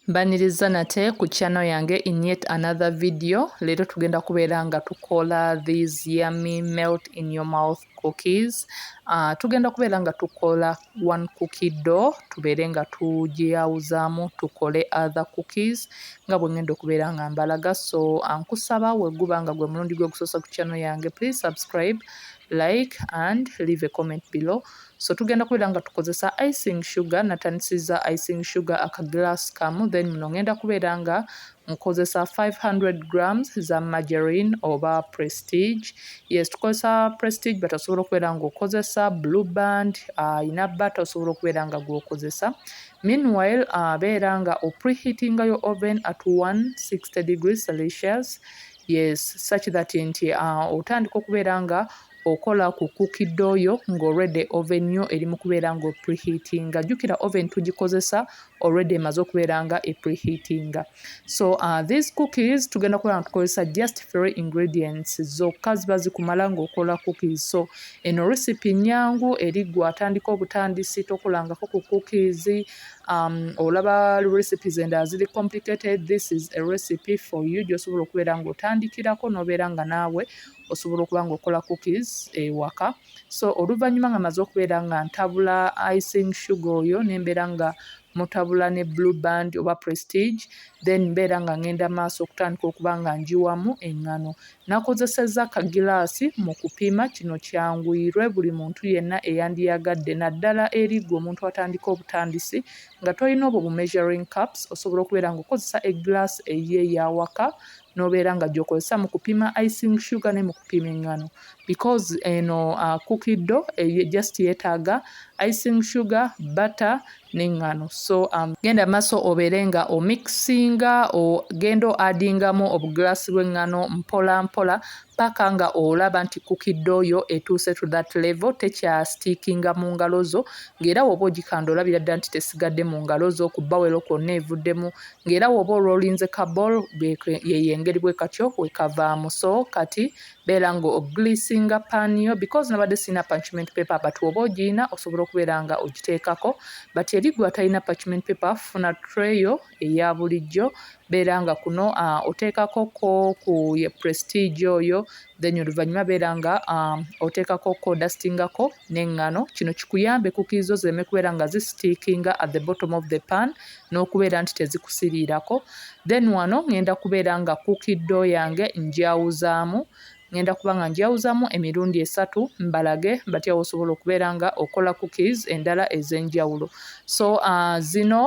Mbaniriza nate ku channel yange in yet another video leero tugenda kubeera nga tukola these yummy melt in your mouth cookies uh, tugenda kubeera nga tukola one cookie do tubeere nga tugiyawuzaamu tukole other cookies nga bwe ngenda okubeera nga mbalaga so ankusaba uh, weguba nga gwe mulundi gwe gusoosa ku channel yange please subscribe like and leave a comment below so tugenda kubeera nga tukozesa icing sugar natandisiza icing sugar aka glass kamu then muno ngenda kubeera nga nkozesa 500 grams za margarine oba prestige yes tukozesa prestige but osobola okubeera nga okozesa blue band ayina uh, bata osobola okubeera nga gwokozesa meanwhile uh, beera nga opreheatinga yo oven at 160 degrees celsius yes such that nti uh, otandika okubeera nga uh, okola ku cookie dough yo nga already oven yo eri mukubeera nga opreheatinga jukira oven tugikozesa already emaze okubeera nga epreheatinga so uh, these cookies tugenda kubeera nga tukozesa just three ingredients zokka ziba zikumala ngaokola cookies so eno recipe nyangu eri gwe atandika obutandisi tokolangako ku cookies um, olaba recipes endala ziri complicated this is a recipe for you gyosobola okubeera ngaotandikirako nobeera nga naawe osobola okuba nga okola cookies ewaka so oluvannyuma nga maze okubeera nga ntabula icing sugar oyo nembeera nga mutabula ne blue band oba prestige then mbeera nga ngenda maaso okutandika okuba nga njiwamu eŋŋano nakozesezza kagilaasi mu kupiima kino kyanguyirwe buli muntu yenna eyandiyagadde naddala eri gwe omuntu atandika obutandisi nga tolina obwo bu measuring caps osobola okubeera nga okozesa egilaasi eyiye yawaka nobeera nga gyokozesa mu kupima icing sugar ne mu kupima eŋŋano because eno uh, cookie dough eh, just yeetaaga icing sugar butter n'eŋŋano so um, genda maaso obeere nga omixinga ogenda oadingamu obuglaasi bw'eŋŋano mpola mpola paka nga olaba nti kukidde oyo etuuse to that level tekyasitiikinga mu ngalo zo ng'era woba ogikanda olabira ddala nti tesigadde mu ngalo zo ku bawero kwonna evuddemu ng'era woba olwolinze ka ball yeyo engeri bwekatyo wekavaamu so kati beera nga ogleasinga pan yo because nabadde sirina parchment paper but woba ogiyina osobola okubeera nga ogiteekako but eri gwe atalina parchment paper funa tray yo eya bulijjo beera nga kuno uh, oteekako ko ku ye prestige oyo then oluvannyuma beera nga um, oteekako kodastingako n'eŋŋano kino kikuyambe kukiizi zo zireme kubeera nga zisitiikinga at the bottom of the pan n'okubeera nti tezikusiriirako then wano ŋŋenda kubeera nga kukiddo yange njawuzaamu ŋŋenda kuba nga njawuzaamu emirundi esatu mbalage batya wosobola okubeera nga okola cookies endala ez'enjawulo so uh, zino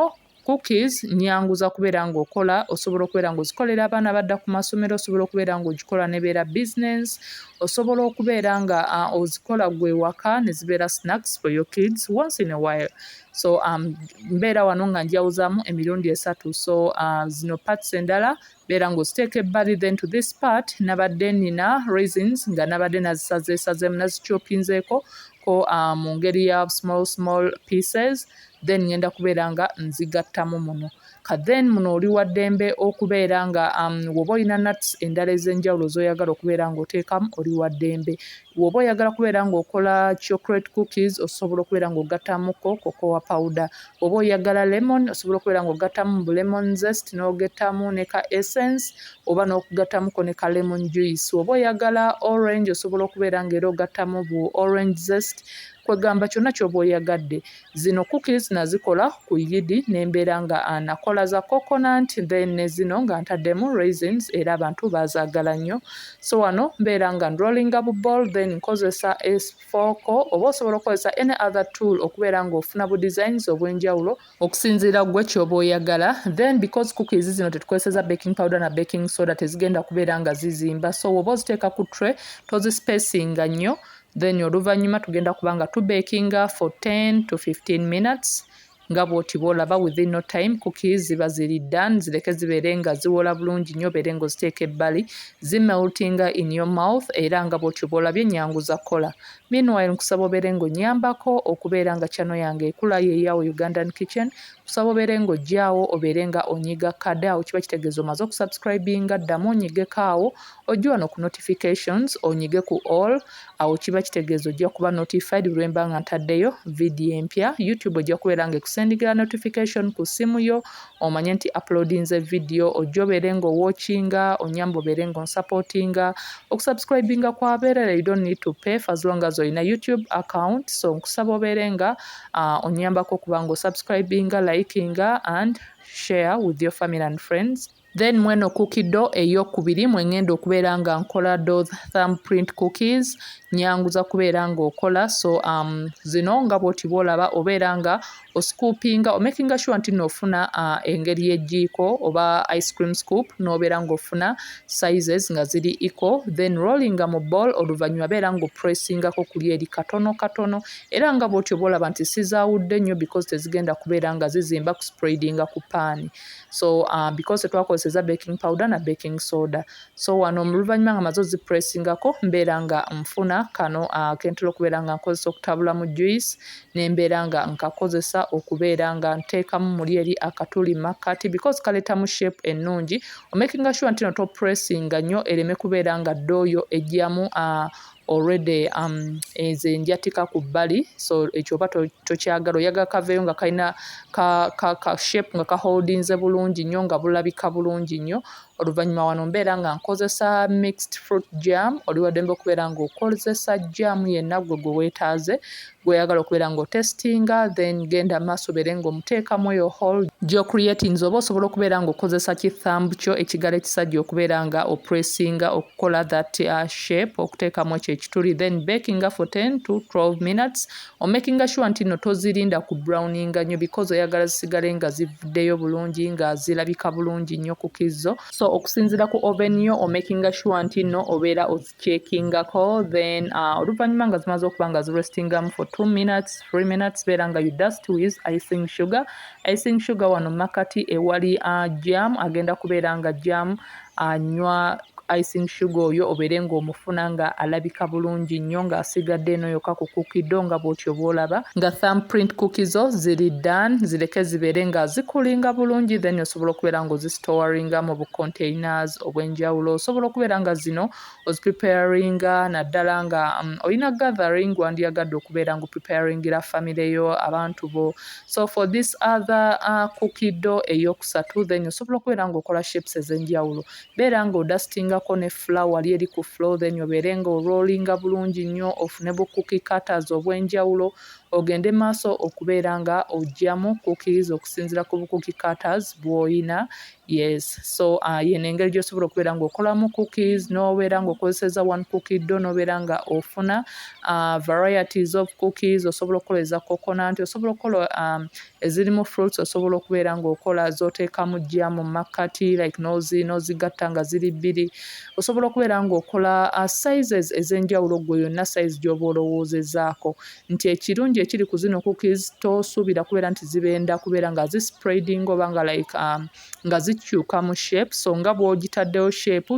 Cookies nyangu za kubeera ng'okola, osobola okubeera ng'ozikolera abaana badda ku masomero, osobola okubeera ng'ogikola nebeera business, osobola okubeera nga uh, ozikola gwe waka ne zibeera snacks for your kids once in a while so um, mbeera wano nga njawuzamu emirundi esatu so uh, zino parts endala Beera ng'oziteeka ebbali then to this part nabadde nina raisins nga nabadde nazisazeesazeemu nazikyopinzeeko ko uh, mu ngeri ya small small pieces then ngenda kubeera nga nzigattamu muno ka then muno oli waddembe okubeera nga um, woba olina nuts endala ez'enjawulo z'oyagala okubeera ng'oteekamu oli waddembe Woba oyagala kubeera nga okola chocolate cookies osobola okubeera nga ogatamuko cocoa powder woba oyagala lemon osobola okubeera nga ogatamu bu lemon zest n'ogetamu ne ka essence oba n'okugatamuko ne ka lemon juice woba oyagala orange osobola okubeera nga era ogatamu bu orange zest kwegamba kyonna kyoba oyagadde Zino cookies nazikola ku yidi nembeera nga nakola za coconut then nezino nga ntaddemu raisins era abantu bazaagala nnyo so wano mbeera nga ndrollinga bu ball then nkozesa esfooko oba osobola okukozesa any other tool okubeera nga ofuna bu designs obw'enjawulo okusinziira gwe kyoba oyagala then because cookies zino tetukozeseza baking powder na baking soda tezigenda kubeera nga zizimba so woba oziteeka ku tray tozispacing nga nnyo then oluvannyuma tugenda kuba nga tubekinga for 10 to 15 minutes nga bwoti bwolaba within no time kuki ziba ziri dan zireke zibeere nga ziwola bulungi nnyo obeere nga oziteeka ebbali zimeltinga in your mouth era nga bwotyo bwolabye ennyangu za kukola meanwhile nkusaba obeere nga onyambako okubeera nga kyano yange ekula yeyawo ugandan kitchen kusaba obeere nga ojjaawo obeere nga onyiga kadawo kiba kitegeeza omaze okusubscribinga ddamu onyigeko awo Ojje wano ku notifications onyige ku all awo kiba kitegeeza ojja kuba notified lwemba nga ntaddeyo vidiyo empya youtube ojja kubeera nga ekusendikira notification ku ssimu yo omanye nti uploadinze vidiyo ojja obeere nga owatchinga onyamba obeere nga onsupportinga okusubscribinga kwabeerera you don't need to pay for as long as olina youtube account so nkusaba obeere nga uh, onyambako okuba nga osubscribinga likinga and share with your family and friends Then mweno cookie do eyokubiri mwengenda okubeera nga nkola those thumb print cookies nyanguza kubeera nga okola so um, zino nga bwoti bwolaba obeera nga oscoopinga omakinga sure nti nofuna uh, engeri yejiiko oba ice cream scoop nobeera nga ofuna sizes nga ziri eco then rollinga mu ball oluvanyuma beera nga opressingako kuli eri katono katono era nga bwotyo bwolaba nti sizawudde nnyo because tezigenda kubeera nga zizimba kuspraidinga ku paani so uh, because twakozeseza baking powder na baking soda so wano oluvanyuma nga maze ozipressingako mbeera nga nfuna kano uh, kentera okubeera nga nkozesa okutabulamu juice nembeera nga nkakozesa okubeera nga nteekamu muli eri akatuli makkati because kaletamu shape ennungi omakinga sure ntino topressinga nnyo ereme kubeera nga ddooyo ejjamu uh, already um, nze njatika ku bbali so ekyo oba tokyagala oyaga kaveeyo nga kalina ka, ka, ka shape nga kaholdinze bulungi nnyo nga bulabika bulungi nnyo oluvannyuma wano mbeera nga nkozesa mixed fruit jam oliwadembe okubeera nga okozesa jam yenna gwe gwe weetaaze Gwoyagala okubeera nga otestinga then genda maaso obeere nga omuteekamu eyo hall gyo creatinze oba osobola okubeera nga okozesa ki thumb kyo ekigalo ekisajja okubeera nga opressinga okukola that uh, shape okuteekamu ekyo ekituli then bakinga for 10 to 12 minutes omakinga sure nti no tozirinda ku browninga nyo because oyagala zisigale nga zivuddeyo bulungi nga zirabika bulungi nyo ku kizzo so okusinzira ku oven yo omakinga sure nti no obeera ozi chekingako then uh, oluvanyuma nga zimaze okuba nga zirestingamu for 2 minutes 3 minutes beera nga you dust with icing sugar icing sugar wano makati ewali uh, jam agenda kubeera nga jam anywa uh, icing sugar oyo obeere ngaomufuna nga alabika bulungi nnyo ng'asigadde eno yoka ku kukido nga bwotyo bwolaba nga thumbprint kuki zo ziri dan zireke zibeere nga zikulinga bulungi then osobola okubeera ngaozisitowaringa mu bukonteinaazo obwenjawulo osobola okubeera nga zino ozipreparinga naddala nga um, olina gathering wandiyagadde okubeera nga opreparingira family yo abantu bo so for this other uh, kukido eyokusatu then osobola okubeera nga okola shapes ezenjawulo beera nga odustingako ne flower lyeri ku flow then obeere nga orolinga bulungi nnyo ofune bu cookie cutters obwenjawulo ogende maaso okubeera nga ojjamu cookies okusinzira ku bu cookie cutters bwoyina Yes, so uh, yeno engeri gyosobola okubeera nga okolamu cookies nobeera nga okozeseza one cookie do nobeera nga ofuna uh, varieties of cookies osobola okukola eza coconut osobola okukola um, ezirimu fruits osobola okubeera nga okola zoteekamu jja mu makkati like nozi nozigatta nga ziri bbiri osobola okubeera nga okola uh, sizes ezenjawulo gwe yonna size gyoba olowoozezaako nti ekirungi ekiri ku zino cookies tosuubira kubeera nti zibenda kubeera nga zi spreading oba nga like um, nga zikyuka mu shape so nga bwogitaddewo shape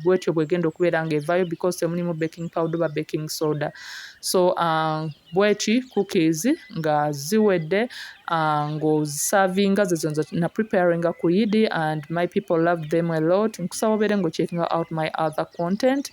bwetyo bwegenda okubeera nga evayo because temulimu baking powder oba baking soda so um, bweki cookies nga ziwedde uh, ng'ozisavinga zezo na preparinga ku yidi and my people love them a lot nkusaba obeere ng'okyekinga out my other content